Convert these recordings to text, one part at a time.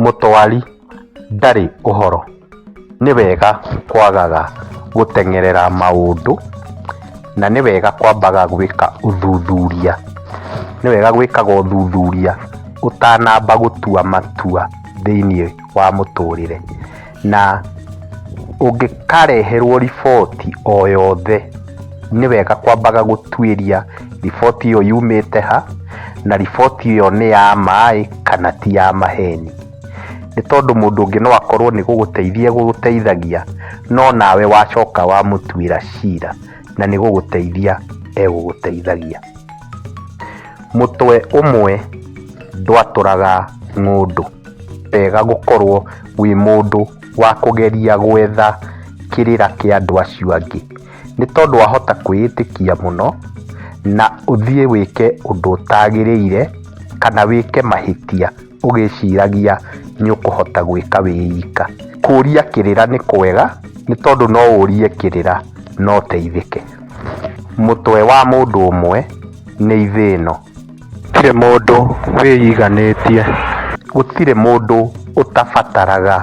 Mũtwari ndarĩ ũhoro. Nĩ wega kwagaga gũteng'erera maũndũ, na nĩ wega kwambaga gwĩka ũthuthuria. Nĩ wega gwĩkaga ũthuthuria ũtanamba gũtua matua thĩiniĩ wa mũtũrĩre. Na ũngĩkareherwo riboti o yothe, nĩ wega kwambaga gũtuĩria riboti ĩyo yumĩte ha, na riboti ĩyo nĩ ya ma ĩ, kana ti ya maheni. Nĩ tondũ mũndũ ũngĩ no akorwo nĩ gũgũteithia egũgũteithagia, no nawe wacoka wamũtuĩra cira, na nĩ gũgũteithia egũgũteithagia. Mũtwe ũmwe ndwatũraga ng'ũndũ. wega gũkorwo wĩ mũndũ wa kũgeria gwetha kĩrĩra kĩa andũ acio angĩ. Nĩ tondũ wahota kwĩĩtĩkia mũno na ũthiĩ wĩke ũndũ ũtagĩrĩire kana wĩke mahĩtia ũgĩciragia nĩ ũkũhota gwĩka wĩ ika. Kũria kĩrĩra nĩ kwega nĩ tondũ no ũrie kĩrĩra na ũteithĩke. Mũtwe wa mũndũ ũmwe nĩ ithĩno. Gũtirĩ mũndũ wĩyiganĩtie. Gũtirĩ mũndũ ũtabataraga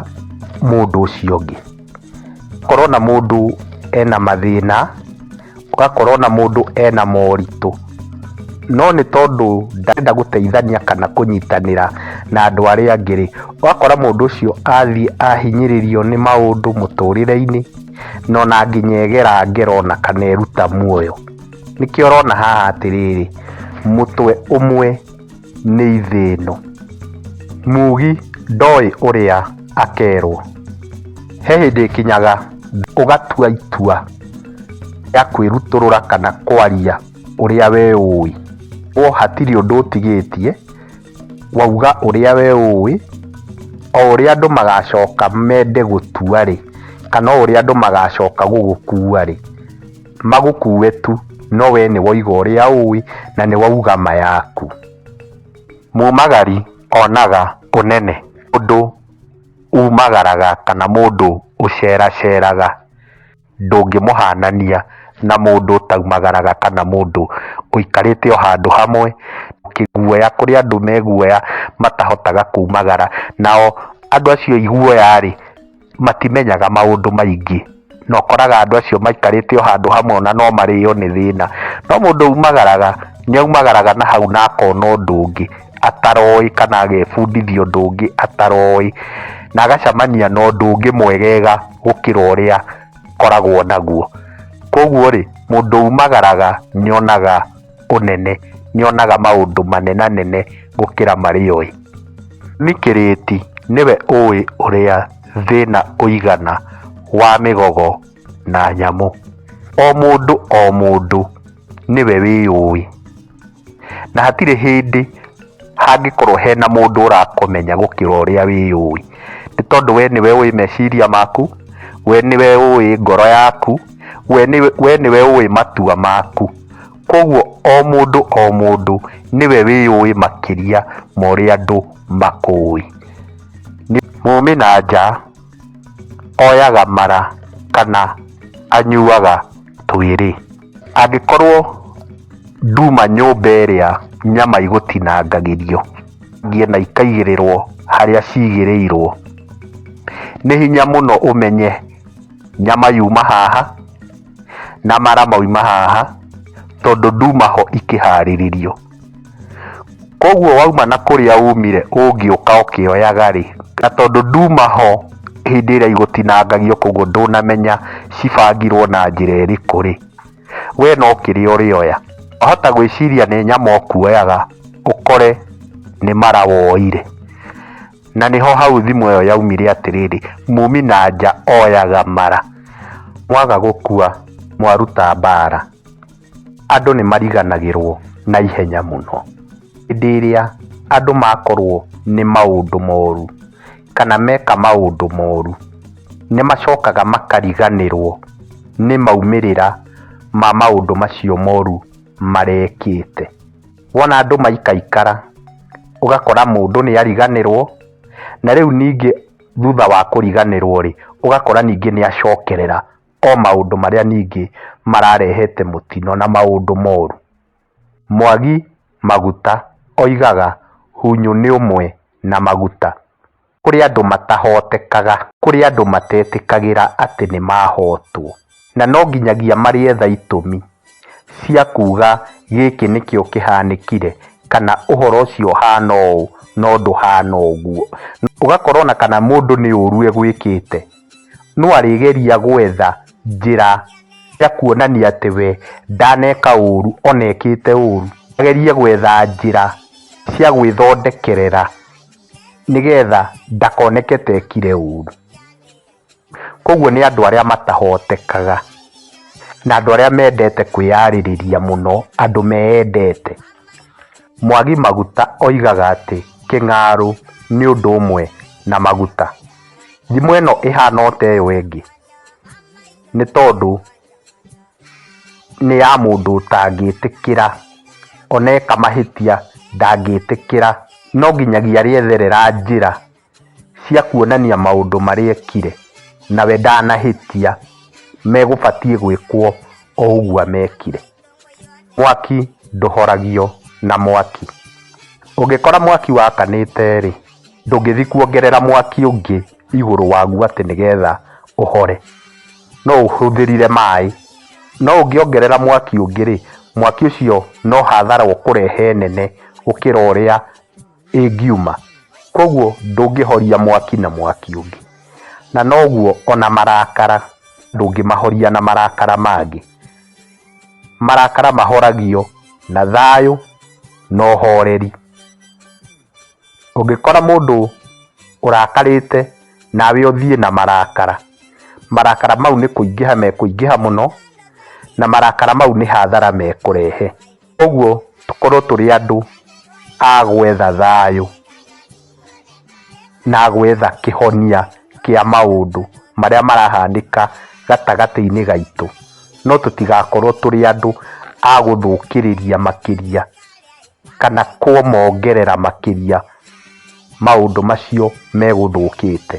mũndũ ũcio ũngĩ. Gũkorwo na mũndũ ena mathĩna, ũgakorwo na mũndũ ena moritũ, no nĩ tondũ ndarenda gũteithania kana kũnyitanĩra na andũ arĩa angĩ rĩ, ũgakora mũndũ ũcio athiĩ ahinyĩrĩrio nĩ maũndũ mũtũrĩre-inĩ, na ona nginya egera ngero na kana eruta muoyo. Nĩkĩo ũrona haha atĩrĩrĩ, mũtwe ũmwe nĩ ithĩno. Mugi ndoĩ ũrĩa akerwo. He hĩndĩ ĩkinyaga ũgatua itua rĩa kwĩrutũrũra kana kwaria ũrĩa we ũĩ. Koguo hatirĩ ũndũ ũtigĩtie, wauga ũrĩa we ũĩ, o ũrĩa andũ magacoka mende gũtua-rĩ, kana o ũrĩa andũ magacoka gũgũkua-rĩ. magũkuue tu no wee nĩ woiga ũrĩa ũĩ na nĩ wauga ma yaku. Mumagari onaga ũnene ũndũ umagaraga kana mũndũ ũceraceraga ndũngĩmũhanania na mũndũ ũtaumagaraga kana mũndũ ũikarĩte o handũ hamwe kĩguoya kũrĩ andũ me guoya matahotaga kumagara nao andũ acio aiguoya rĩ matimenyaga maũndũ maingĩ na ũkoraga andũ acio maikarĩte o handũ hamwe ona no marĩo nĩ thĩna no mũndũ umagaraga nĩ aumagaraga na hau na akona ũndũ ũngĩ ataroĩ kana agebundithia ũndũ ũngĩ ataroĩ na agacamania na ũndũ ũngĩ mwegega gũkĩra ũrĩa koragwo naguo koguo rĩ mũndũ umagaraga nyonaga ũnene, nĩonaga maũndũ manenanene gũkĩra marĩa oĩ. Nĩ kĩrĩti, nĩwe ũĩ ũrĩa thĩna ũigana wa mĩgogo na nyamũ. O mũndũ o mũndũ nĩwe wĩyũĩ, na hatirĩ hĩndĩ. hangĩkorwo hena mũndũ ũrakũmenya gũkĩra ũrĩa wĩyũĩ nĩ tondũ we nĩwe ũĩ meciria maku we nĩwe ũĩ ngoro yaku we nĩwe we nĩwe ũĩ matua maku koguo o mũndũ o mũndũ nĩwe wĩyũĩ makĩria ma ũrĩa andũ makũĩ Nĩ- mũmĩ na nja oyaga mara kana anyuaga twĩrĩ. Angĩkorwo nduma nyũmba ĩrĩa nyama igũtinangagĩrio na ikaigĩrĩrwo harĩa cigĩrĩirwo, nĩ hinya mũno ũmenye nyama yuma haha na mara mauma haha tondũ nduma ho ikĩharĩrĩrio. Koguo wauma na kũrĩa umire ũngĩũka ũkĩoyaga rĩ, na tondũ nduma ho hĩndĩ ĩrĩa igũtinangagio koguo ndũnamenya cibangirwo na njĩra ĩrĩkũ rĩ, we no kĩrĩa ũrĩoya. Wahota gwĩciria nĩ nyama ũkuoyaga ũkore nĩ mara woire. Na nĩho hau thimo ĩyo yaumire atĩrĩrĩ, mumi na nja oyaga mara. Mwaga gũkua mwaruta mbara. andũ nĩ mariganagĩrwo na ihenya mũno. Hĩndĩ ĩrĩa andũ makorwo nĩ maũndũ moru, kana meka maũndũ moru, nĩ macokaga makariganĩrwo nĩ maumĩrĩra ma maũndũ macio moru marekĩte. Wona andũ maikaikara, ũgakora mũndũ nĩ ariganĩrwo, na rĩu ningĩ thutha wa kũriganĩrwo rĩ, ũgakora ningĩ nĩ acokerera o maũndũ marĩa ningĩ mararehete mũtino na maũndũ moru. Mwagi Maguta oigaga Hunyũ nĩ ũmwe na Maguta. Kũrĩ andũ matahotekaga. Kũrĩ andũ matetĩkagĩra atĩ nĩ mahotwo. Na no nginyagia marĩetha itũmi cia kuuga gĩkĩ nĩkĩo kĩhanĩkire kana ũhoro ũcio ũhana ũũ no ndũhana ũguo. Ũgakora ona kana mũndũ nĩ ũru egwĩkĩte. no arĩgeria gwetha njĩra cia kuonania atĩ we ndaneka ũũru ona ekĩte ũũru. Agerie gwetha njĩra cia gwĩthondekerera nĩgetha ndakoneke ta ekire ũũru. Kũguo nĩ andũ arĩa matahotekaga na andũ arĩa mendete kwĩyarĩrĩria mũno, andũ meyendete. Mwagi Maguta oigaga atĩ Kĩng'aurũ nĩ ũndũ ũmwe na maguta. Thimũ ĩno ĩhana ota ĩyo ĩngĩ, nĩ tondũ nĩ ya mũndũ ũtangĩtĩkĩra ona eka mahĩtia ndangĩtĩkĩra, no nginyagia arĩetherera njĩra cia kuonania maũndũ marĩa ekire, nawe ndanahĩtia megũbatiĩ gwĩkwo o ũguo amekire. Mwaki ndũhoragio na mwaki. Ũngĩkora mwaki wakanĩte rĩ, ndũngĩthiĩ kuongerera mwaki ũngĩ igũrũ waguo atĩ nĩgetha ũhore. No ũhũthĩrire maĩ. No ũngĩongerera mwaki ũngĩ rĩ, mwaki ũcio no hathara ũkũrehe nene gũkĩra ũrĩa. ĩngiuma, kwoguo ndũngĩhoria mwaki na mwaki ũngĩ, na noguo o na marakara ndũngĩmahoria na marakara mangĩ. Marakara mahoragio na thayũ na ũhoreri. Ũngĩkora mũndũ ũrakarĩte nawe ũthiĩ na marakara, marakara mau nĩ kũingĩha mekũingĩha mũno, na marakara mau nĩ hathara mekũrehe. Ũguo tũkorwo tũrĩ andũ a gwetha thayũ na gwetha kĩhonia kĩa maũndũ marĩa marahanĩka gatagatĩ-inĩ gaitũ, no tũtigakorwo tũrĩ andũ a gũthũkĩrĩria makĩria kana kũmongerera makĩria maũndũ macio megũthũkĩte.